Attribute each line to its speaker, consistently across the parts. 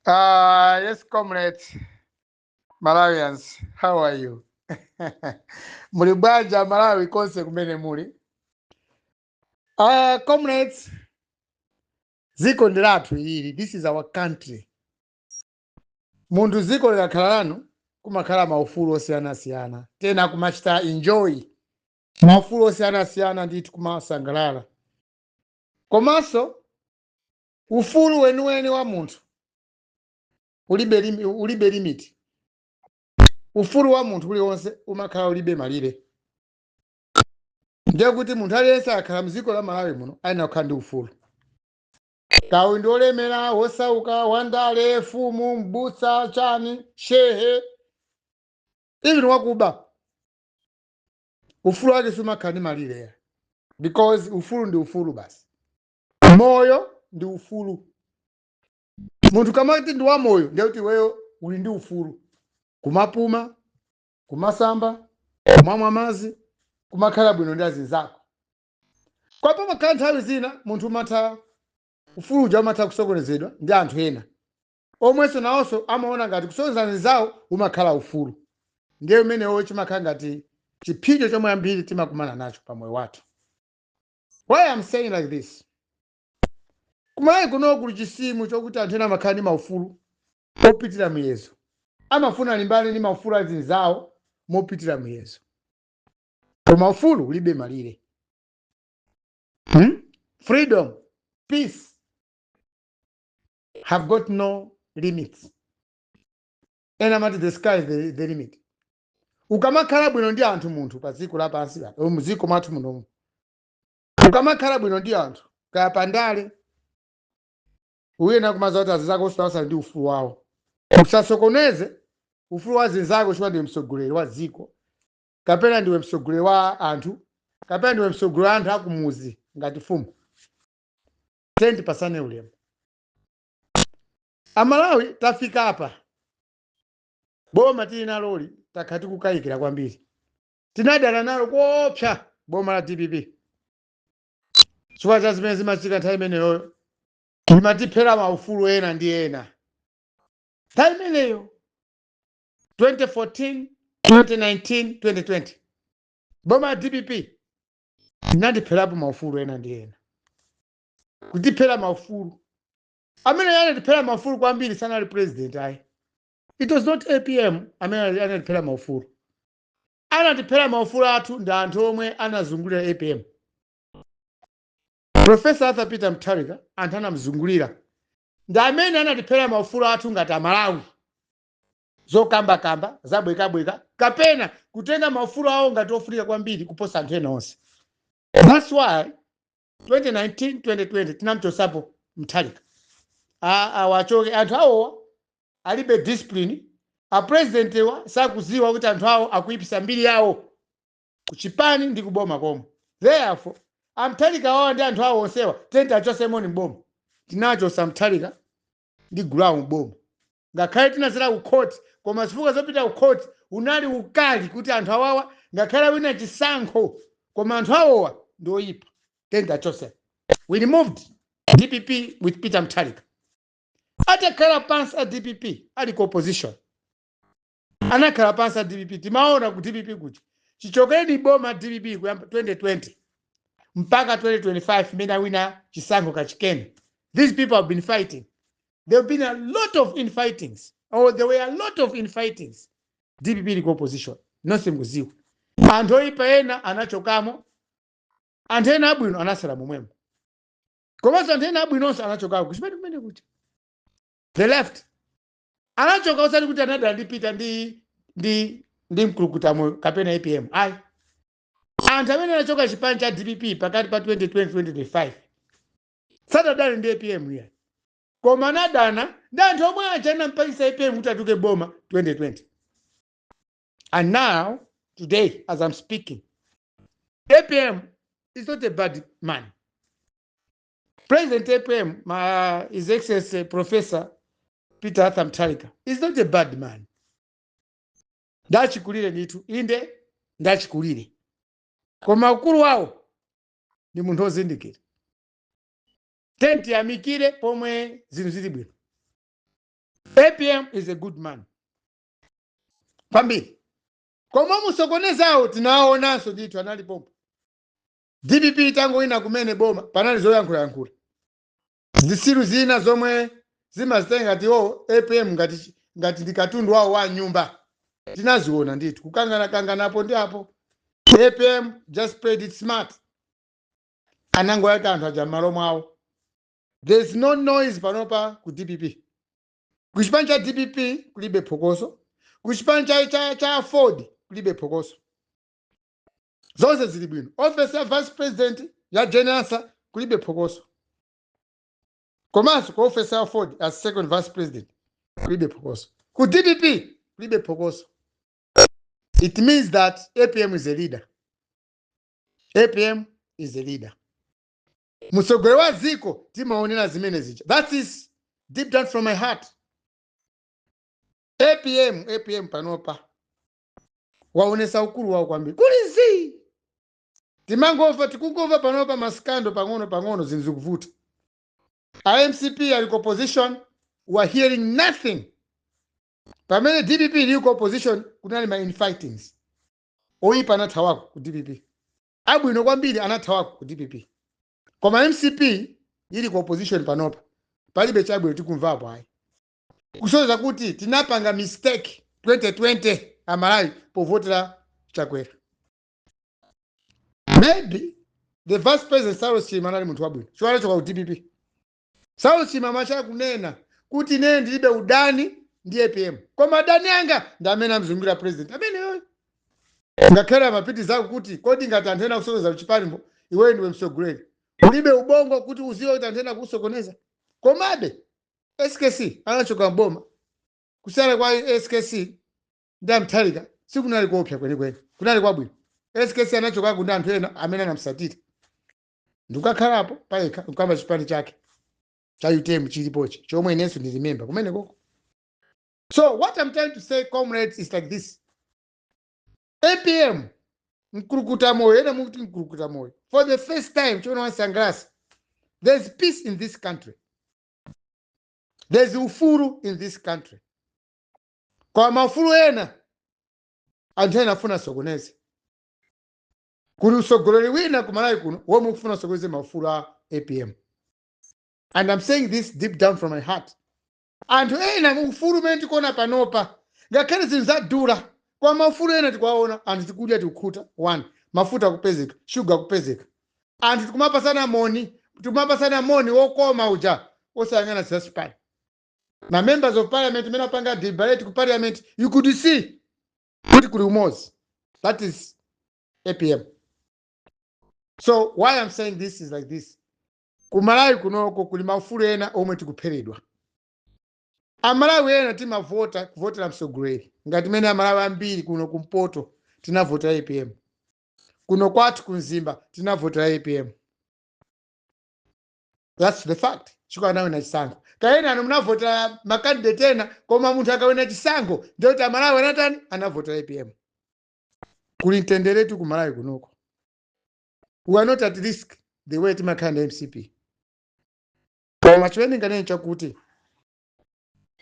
Speaker 1: Uh, yes, comrades, Malawians, how are you? muli bwanji Malawi konse kumene muli? Uh, comrades, ziko ndi lathu ili, this is our country. Munthu ziko likakhala lanu kumakhala maufulu osiyanasiyana, tena kumachita enjoy maufulu osiyanasiyana ndithu kumasangalala komanso ufulu weniweni wa munthu ulibe limi- ulibe limiti ufulu wa munthu uliwonse umakhala ulibe malire ndiye kuti munthu aliyense akhala mdziko la malawi muno ayenera kukhala ndi ufulu kaya ndi olemera wosauka wandale fumu mbutsa chani shehe even wakuba ufulu wake siumakhala ndi malire because ufulu ndi ufulu basi moyo ndi ufulu munthu ukamati ndi wamoyo ndiye kuti iweyo uli ndi ufulu kumapuma kumasamba kumamwa madzi kumakhala bwino ndi azinzako koma pamakhala nthawi zina munthu umatha ufulu uja umatha kusokonezedwa ndi anthu ena omwenso nawonso amaona ngati kusokoneza anzawo umakhala ufulu ndiye umenewo chimakhala ngati chiphinjo chomwe ambiri timakumana nacho pa moyo wathu Why I am saying like this? Kumalawi kuno kuli chisimo chokuti anthu ena amakhala ndi maufulu opitira muyezo. Amafuna alimbane ndi maufulu a azinzawo mopitira muyezo. Koma ufulu ulibe malire. Hmm? Freedom, peace have got no limits. Ena amati the sky is the, the limit. ukamakhala bwino ndi anthu munthu pa dziko lapansi pa- eh, mdziko mwathu munomu ukamakhala bwino ndi anthu kaya pandale uyenera kumadziwa kuti azinzakonso nawonso ali ndi ufulu wawo usasokoneze ufulu wa azinzako chifukwa ndiwe mtsogoleri wa dziko kapena ndiwe mtsogoleri wa anthu kapena ndiwe mtsogoleri wa anthu akumuzi ngati fumu tiyeni tipatsane ulemu amalawi tafika apa boma tili naloli takhala tikukayikira kwambiri tinadana nalo koopsa boma la dpp chifukwa cha zimene zimachitika nthawi imeneyoyo imatiphera maufulu ena ndi ena nthawi imeneyo 2014 2019 2020 boma la dpp inatipherapo maufulu ena ndi ena kutiphera maufulu Amene anatiphera maufulu kwambiri sanali president ayi. It was not APM amene anati- anatiphera maufulu. Anatiphera maufulu athu ndi anthu omwe anazungulira APM. Professor Arthur Peter Mutharika anthu anamzungulira ndi amene anatiphera maufulu athu ngati Amalawi. zokambakamba zabwekabweka kapena kutenga maufulu awo ngati ofunika kwambiri kuposa anthu ena onse that's why 2019 2020 tinamchosapo Mutharika A- awa achoke anthu awowa alibe discipline apresidentiwa sakuziwa kuti anthu awo akuipisa mbiri yawo kuchipani ndi kuboma komwe therefore a Mutharika wawa ndi anthu awo onsewa tiyeni tiachosemoni mboma tinachosa Mutharika ndi gulu lawo mboma ngakhale tinazera ku court koma zifukwa zopita ku court unali ukali kuti anthu awawa ngakhale awina chisankho koma anthu awowa ndi oyipa tiyeni tiachose we removed dpp with peter Mutharika atakhala pansi a dpp ali ku opposition anakhala pansi a dpp timaona ku dpp kuti chichokereni mboma dpp kuyamba 2020 mpaka 2025 mmene awina chisankho kachikena these people have been fighting there have been a lot of infightings or there were a lot of infightings dpp ili ku opposition nonse mukuziwa anthu oyipa ena anachokamo anthu ena abwino anasala momwemo komanso anthu ena abwinonso anachokako kuchipani kumeneku they left anachoka osati kuti anadana ndi peter ndi ndi ndi Mkulukutamoyo kapena apm ayi anthu amene anachoka chipani cha dpp pakati pa 2020 2025 sadadane ndi apm iya koma anadana ndi anthu omwe aja anampangisa apm kuti atuluke mboma 2020 and now today as i'm speaking apm is not a bad man President APM, His Excellency Professor Peter Arthur Mutharika, is not a bad man. Ndachikulire ndithu inde ndachikulire koma ukulu wawo ndi munthu ozindikira tiyeni tiyamikire pomwe zinthu zili bwino apm is a good man kwambiri koma osokonezawo tinawaonanso ndithu anali pompo dpp itangolowa kumene mboma panali zoyankhulayankhula zisiru zina zomwe zimazitenga ngati oo apm ngati chi- ngati ndi katundu wawo wa mnyumba tinaziona ndithu kukanganakangana apo ndi apo apm just played it smart anangoyika anthu aja m'malo mwawo there is no noise panopa ku dpp ku chipani cha dpp kulibe phokoso ku chipani cha, cha, cha aford kulibe phokoso zonse zili bwino ofesi ya vice president ya jane ansah kulibe phokoso komanso ku ofesi ya enoch as second vice president kulibe phokoso ku dpp kulibe phokoso it means that apm is a leader apm is a leader msogoleri wa dziko timaonera zimene zija that is deep down from my heart apm apm panopa awonesa ukulu wawo kwambiri kuli zii timangomva tikungomva panopa masikando pang'ono pang'ono zinthu zikuvuta a mcp ali ku opposition we are hearing nothing pamene dpp ili ku opposition kunali ma infightings oyipa anathawako ku dpp abwino kwambiri anathawako ku dpp koma mcp ili ku opposition panopa palibe chabwino tikumvapo ayi kusoza kuti tinapanga mistake 2020 amalawi povotera chakwera maybe the vice president saulos chilima anali munthu wabwino chifukwa pochoka ku dpp saulos chilima anachita kunena kuti ine ndilibe udani ndi apm koma adani anga ndi amene amzungira president ameneyoyo ngakhale amapitirizako kuti kodi ngati anthu ena akusokoneza m'chipanimo iweyo ndiwe msogoleri ulibe ubongo kuti uziwe kuti anthu ena akusokoneza komabe skc anachoka m'boma kusiyana kwa skc ndi a mutharika sikunali kuopsa kwenikweni kunali kwabwino skc anachokako anthu ena amene anamsatira ndikukakhalapo payekha nkuyamba chipani chake cha utm chilipochi chomwe inenso ndili memba kumenekoko so what i'm trying to say comrades is like this apm mkulukuta moyo ena mukuti mkulukuta moyo for the first time chimene wansangalatsa there's peace in this country there's ufulu in this country koma maufulu ena anthu ena afuna asokoneze kuli usogoleri wina ku malawi kuno womwe ukufuna usokoneze maufulu a apm and i'm saying this deep down from my heart anthu ena ufulu umene tikuona panopa ngakhale zinthu zadula koma maufulu ena tikuwaona anthu tikudya tikukhuta one mafuta akupezeka shuga akupezeka anthu tikumapatsana moni tikumapatsana moni wokoma uja osayang'ana zachipani na members of parliament mmene apangira deliberate ku parliament you could see kuti kuli umozi that is apm so why i'm saying this is like this ku malawi kunoko kuli maufulu ena omwe tikuphweredwa amalawi ena timavota kuvotera msogoleri ngati mmene amalawi ambiri kuno kumpoto tinavotera apm kuno kwathu ku mzimba tinavotera apm thats the fact chiko anawina chisankho kaya enanu munavotera makandidate ena koma munthu akawina chisankho ndiye kuti amalawi anatani anavotera apm kuli mtenderetu ku malawi kunoko we are not at risk the way timakhala ndi mcp koma chimene nganene chakuti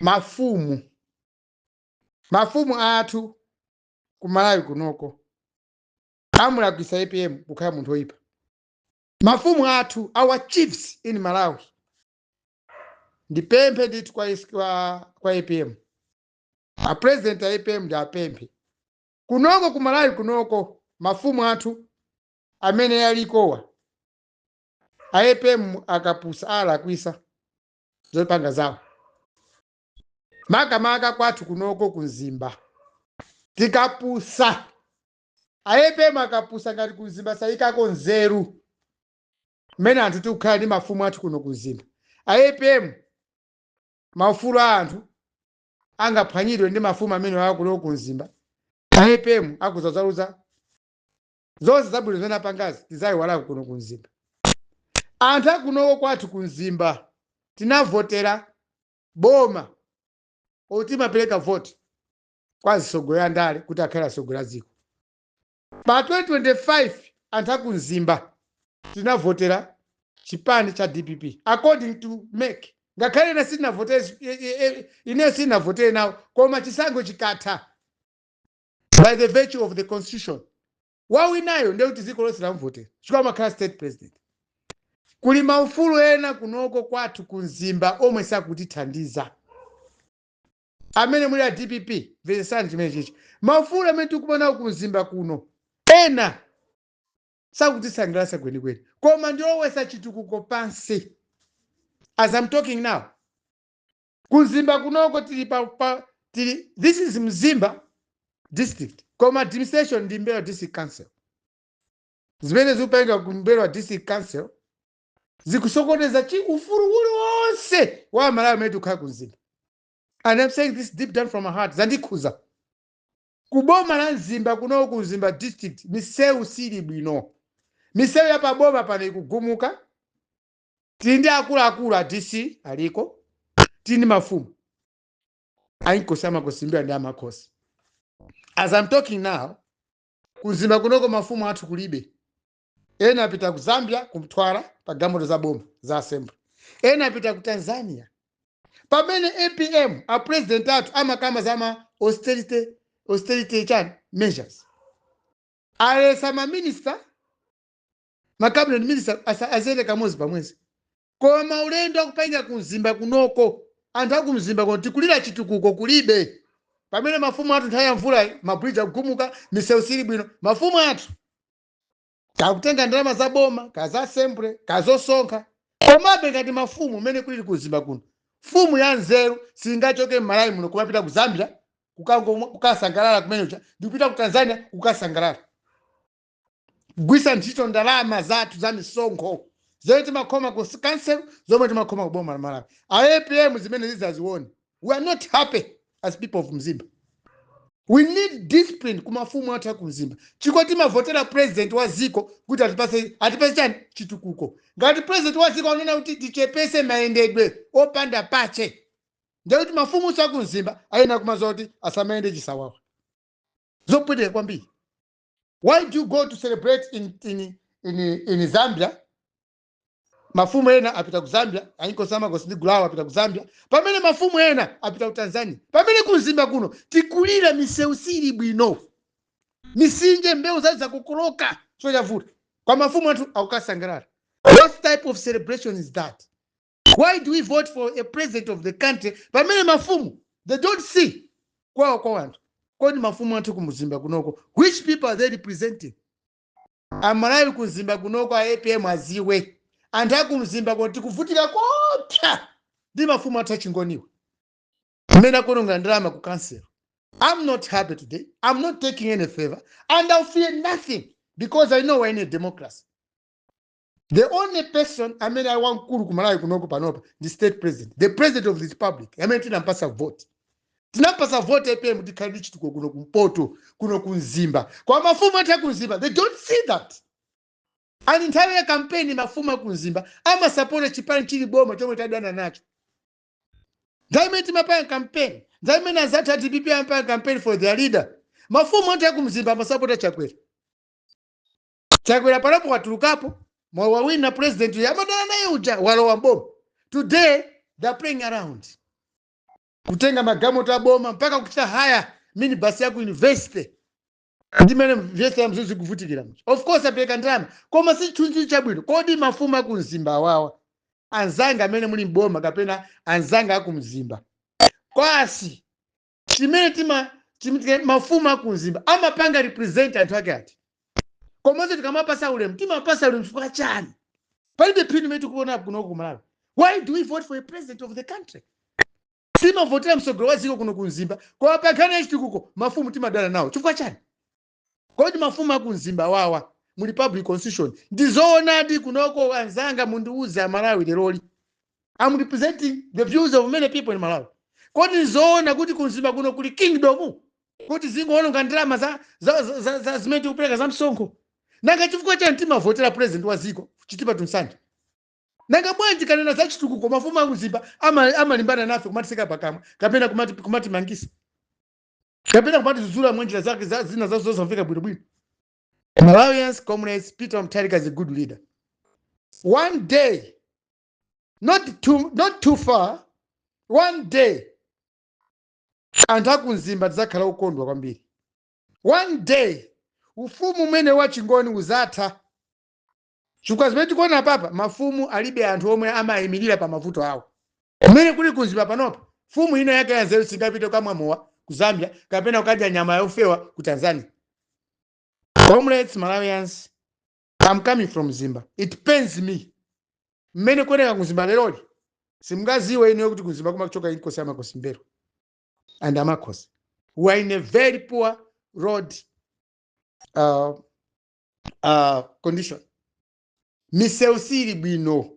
Speaker 1: mafumu mafumu athu ku malawi kunoko amulakwisa apm kukhala munthu oyipa mafumu athu our chiefs in malawi ndipemphe ndithu kwa, is- kwa, kwa apm apresident a apm ndiwapemphe kunoko ku malawi kunoko mafumu athu amene alikowa a apm akapusa alakwisa zopanga zawo makamaka kwathu kunoko ku mzimba tikapusa a apm akapusa ngati ku mzimba sayikako nzeru mmene anthu tikukhala ndi mafumu athu kuno ku mzimba a apm maufulu a anthu angaphwanyidwe ndi mafumu amenewa kuno ku mzimba a apm akudzaluza zonse zabwino zimene apangazi tizayiwalako kuno ku mzimba anthu akunoko kwathu ku mzimba tinavotera boma timapereka vote kwa azitsogoleri a ndale kuti akhale atsogoleri a dziko pa 2025 anthu aku mzimba tinavotera chipani cha dpp according to mec ngakhale ine sindinavote ine sindinavote nawo koma chisankho chikatha by the virtue of the constitution wawinayo ndiye kuti dziko lonse lamuvota chifukwa amakhala state president kuli maufulu ena kunoko kwathu ku mzimba omwe sakutithandiza amene muli a dpp mvetsetsani chimene chichi maufulu amene tikukumana nawo ku mzimba kuno ena sakutisangalatsa kwenikweni koma ndi obweza chitukuko pansi as I'm talking now Kumzimba kunoko tili pa, pa tili this is Mzimba district koma administration ndi M'mbelwa district council. Zimene zikupangika ku M'mbelwa district council zikusokoneza chi ufulu uliwonse wa aMalawi amene tikukhala ku Mzimba. And I'm saying this deep down from my heart zandikhuza. Ku boma la Mzimba kunoko ku Mzimba district misewu sili bwino. Misewu ya pa boma pano ikugumuka. tili ndi akuluakulu a dc aliko tili ndi mafumu ainkosi amakosi mbelwa ndi amakhosi as I'm talking now kumzimba kunoko mafumu athu kulibe ena apita ku zambia kumtwara pa galimoto za boma za assembly ena apita ku tanzania pamene apm a president athu amakamba za ma austerity austerity chani measures aletsa ma minister ma cabinet minister asa- aziyenda kamodzi pamwezi koma ulendo akupanga ku mzimba kunoko anthu aku mzimba kuno tikulira chitukuko kulibe pamene mafumu athu nthawi ya mvula mabridge akugumuka misewu siili bwino mafumu athu akutenga ndalama za boma za assembly zosonkha komabe ngati mafumu mmene kulili ku mzimba kuno mfumu ya nzeru singachoke m'malawi muno kumapita ku zambia kukango- kukasangalala kumenecha ndikupita ku tanzania kukasangalala kugwiritsa ntchito ndalama zathu za misonkho zomwe timakhoma ku council zomwe timakhoma ku boma la malawi a apm zimene zidzazione we are not happy as people of mzimba we need discipline ku mafumu athu aku mzimba chiko timavotera president wa dziko kuti atipatse atipatse chani chitukuko ngati president wa dziko anena kuti tichepese mayendedwe opanda pake ndiye kuti mafumu athu aku mzimba ayenera kumadziwa kuti asamayende chisawawa zopweteka kwambiri why do you go to celebrate in, in, in, in zambia mafumu ena apita ku zambia ainkosi amakosi ndi gulu lawo apita ku zambia pamene mafumu ena apita ku tanzania pamene kumzimba kuno tikulira misewu siili bwino mitsinje mbewu zathu zakokoloka so chavuta kwa mafumu athu akukasangalala what type of celebration is that why do we vote for a president of the country pamene mafumu they don't see kuwawa kwa wanthu kodi mafumu athu kumzimba kunoko which people are they representing amalawi kumzimba kunoko a apm adziwe anthu akumzimba kuno tikuvutika koopsa ndi mafumu athu achingoniwa mmene akonongera ndalama ku council i'm not happy today i'm not taking any favor and i'll fear nothing because i know we're in a democracy the only person amene ali wamkulu ku malawi kunoko panopa ndi state president the president of the republic amene tinampatsa vote tinampatsa vote apm tikhale ndi chitukuko kuno kumpoto kuno kumzimba koma mafumu athu akumzimba they don't see that and nthawi ya kampeni mafumu akumzimba amasapota chipani chili boma chomwe tadana nacho nthawi imene timapanga kampeni nthawi imene anzathu a dpp amapanga kampeni for their leader mafumu athu akumzimba amasapota chakwera chakwera panopo watulukapo mwa wawina president uja amadana naye uja walowa mboma today they're playing around kutenga magalimoto aboma mpaka kuchita haya minibus ya ku university ndimene vyese ya mzuzu kuvutikira mcho of course apereka ndalama koma si chunzi chabwino kodi mafumu aku mzimba awawa anzanga amene muli mboma kapena anzanga aku mzimba kwasi chimene tima chim- tika- mafumu akumzimba amapanga represent anthu ake ati komanso tikamapasa ulemu timapasa ulemu chifukwa chani palibe phindu imene tikuona kuno ku malawi why do we vote for a president of the country timavotera mtsogoleri wa dziko kuno kumzimba koma pa nkhani ya chitukuko mafumu timadana nawo chifukwa chani kodi mafumu aku mzimba wawa muli public constitution ndizoonadi kunoko anzanga mundiuze amalawi leroli am representing the views of many people in malawi kodi ndizoona kuti kumzimba kuno kuli kingdom kuti zingoononga ndalama za, za, za, za, za zimene tikupereka za msonkho nanga chifukwa chani timavotera president wa dziko chitipa to nsanje nanga bwanji tikanena za chitukuko mafumu aku mzimba ama- amalimbana nafe kumatitseka pakamwa kapena kumati- kumatimangisa kapena kumatidzudzula mwanjira zake za zina zazo zosamveka bwinobwino malawians comrades peter mutharika is a good leader one day not too, not too far one day anthu akumzimba tidzakhala okondwa kwambiri one day ufumu umene wachingoni udzatha Chifukwa zimene tikuona apapa, mafumu alibe anthu omwe amawaimirira pa mavuto awo. Mmene kuli ku Mzimba panopa, mfumu ina yake yanzeru singapite kukamwa mowa ku Zambia kapena kukadya nyama yofewa ku Tanzania. Comrades, Malawians, am coming from Mzimba. It pains me mmene kuoneka ku Mzimba leroli. Simungadziwe inuyo kuti ku Mzimba kumachoka Inkosi ya Makosi M'mbelwa and Amakhosi. We are in a very poor road uh, uh, condition misewu siili bwino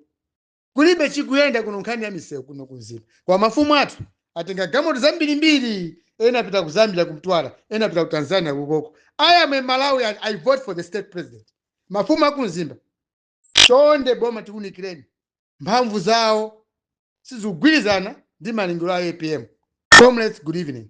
Speaker 1: kulibe chikuyenda kuno nkhani ya misewu kuno kumzimba kwa mafumu athu atenga galimoto zambirimbiri ena apita ku zambia kumtwala ena apita ku tanzania kukoko i am a malawian i vote for the state president mafumu akumzimba chonde boma tiunikireni mphamvu zawo sizikugwirizana ndi malingaliro a apm comrades good evening